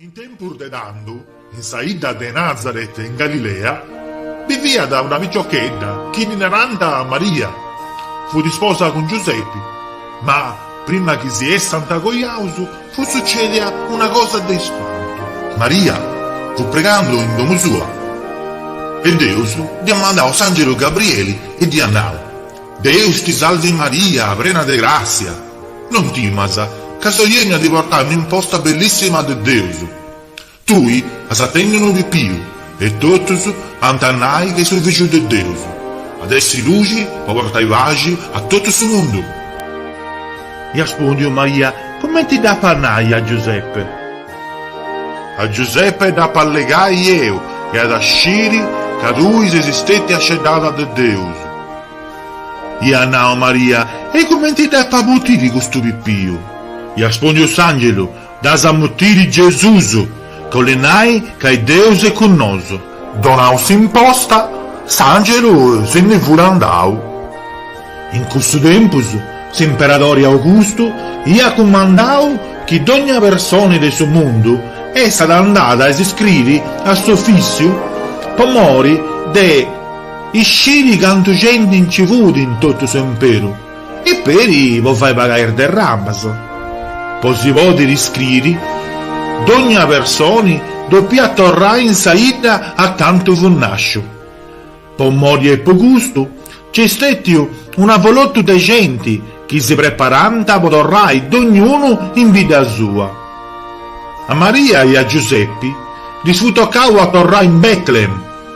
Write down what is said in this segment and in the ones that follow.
In tempus de tando, in sa 'idda de Nazaret in Galilea, biviat una piciochedda chi ddi narànt Maria. Fut isposa cun Giusepi. Ma, prima chi si essant cojaus, fut sucèdia una cosa de ispantu. Maria fut pregando in domu sua e Deus dd'iat mandau s'àngelu Gabrieli e dd'iat nau, Deus ti salvi Maria, prena de gràssia! Non timas, ca seu 'ènniu a ti portai un'imposta bellissima de Deus. Tui as a tenni unu pipiu, e totus ant a nai chi est su Fìgiu de Deus. At a essi luxi po portai paxi a totu su mundu. Iat ispòndiu Maria, cumenti dd'apu a nai a Giuseppe? A Giuseppe dd'apu allegai eu, e at a sciri ca tui ses stètia sceddada de Deus. Iat nau Maria, E cumenti dd'apu a mutiri custu pipiu? Iat ispòndiu s'angelu, Dd'as a mutiri Gesusu, ca 'olit nai ca est Deus e cun nosu. Donau s'imposta, s'angelu si ndi fut andau. In cussu tempus s'imperadori Augustu iat cumandau chi dogna personi de su mundu essat andada a si iscriri a s'ofissiu po mori de. Isciri cantu genti nci fut in totu s'emperu e peri po fai pagai is derramas. Po si pòdiri iscriri, dogna personi depiat torrai in sa idda a cantu fut nasciu. Po mori 'e custu, nc'est stetiu un'avolotu de genti chi si preparànt po torrai dognunu in bidda sua. A Maria e a Giusepi ddis fut tocau a torrai in Bètlehem.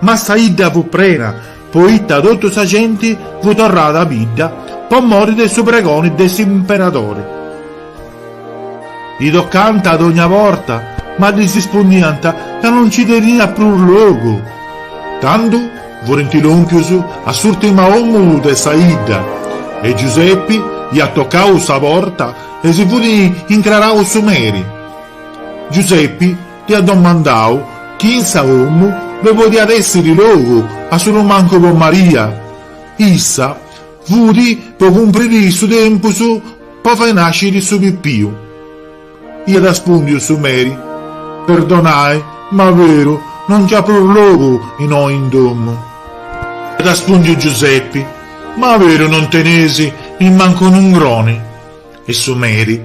Ma sa 'idda fut prena, poita totu sa genti fut torrada a bidda po mori de su pregoni de s'imperadori. Tocànt a dogna porta, ma ddis ispundiant ca no nci teniat prus logu. Tando furint lòmpius a s'ùrtima omu de sa 'idda e Giusepi iat tocau sa porta e si fut incrarau su meri. Giusepi. Dd'iat domandau chi in sa domu ddoi podiat èssiri logu a solu mancu po Maria. Issa fut po cumpriri su tempus po fai nàsciri su pipiu. Iat ispùndiu su meri, Perdonai, ma veru, no nc'at prus logu innoi in domu. Iat ispùndiu Giusepi, Ma veru non tenis nimmancu unu ngroni? E su meri.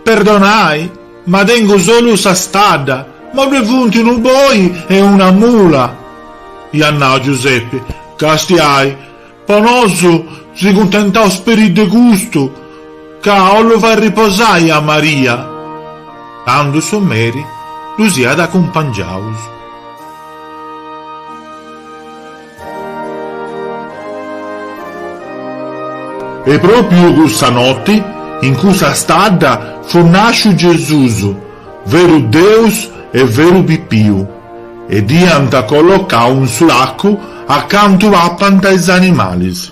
Perdonai, ma tengu solu sa stadda, mancai ddue funt unu boi e una mula. Iat nau Giuseppe, Castiai, po nosu si cuntentaus peri de custu, ca 'ollu fai riposai a Maria. Candu su meri ddus iat acumpangiaus. E pròpiu cussa noti, in cussa stadda, fut nàsciu Gesùs, veru Deus e veru pipiu, e dd'iant collocau in su lacu a cantu papant is animalis.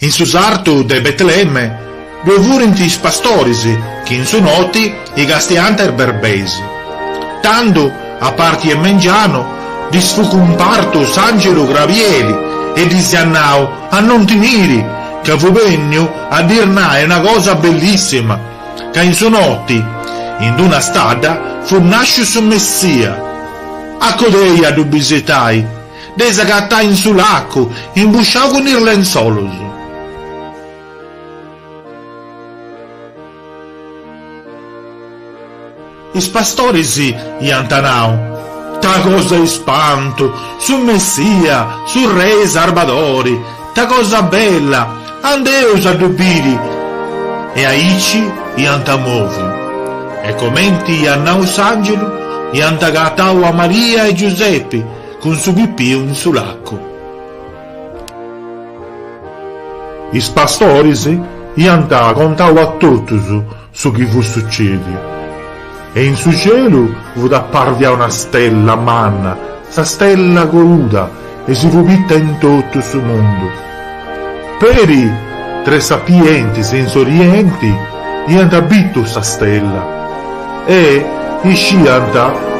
In su sartu de Betlemme ddue furint is pastoris chi in su noti i castiant is berbeis. Tando, a parti 'e mengianu, ddis fut cumpartu s'àngelu Grabieli e ddis iat nau a non timiri, ca fut bènniu a ddis nai una cosa bellissima, ca in su noti, in d-una stadda, fut nàsciu su Messia. A codei a ddu bisitai. Dd'eis agatai in su lacu, imbusciau cun is lenzolus. Is pastoris iant nau, Ta cosa 'e ispantu! Su Messia, su Rei Sarbadori! Ta cosa bella! Andeus a ddu biri! E aici iant moviu. E comenti iat nau s'angelu, iant agatau a Maria e Giusepi, Cun su pipiu in su lacu. Is pastoris iant contau a totus su chi fut sucediu, e in su celu fut apparvia una stella manna, sa stella coluda, e si fut bitta in totu su mundu. Peri tres sapientis in s'orienti iant bitu sa stella e isciant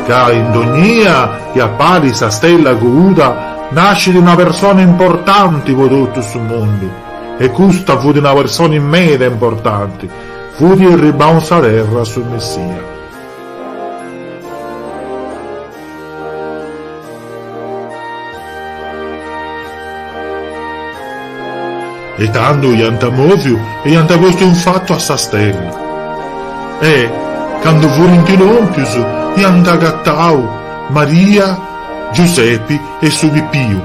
ca in dognia chi apparit sa stella cuuda nascit una persona importanti po totu su mundu e custa fut una persona meda importanti, fut irribau a sa terra su Messia. E tando iant mòviu e iant postu in fatu a sa stella. E, cando furint lòmpius, iant agatau Maria, Giusepi e su pipiu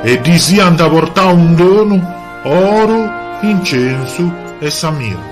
e ddis iant portau in donu oru, incensu e sa mirra.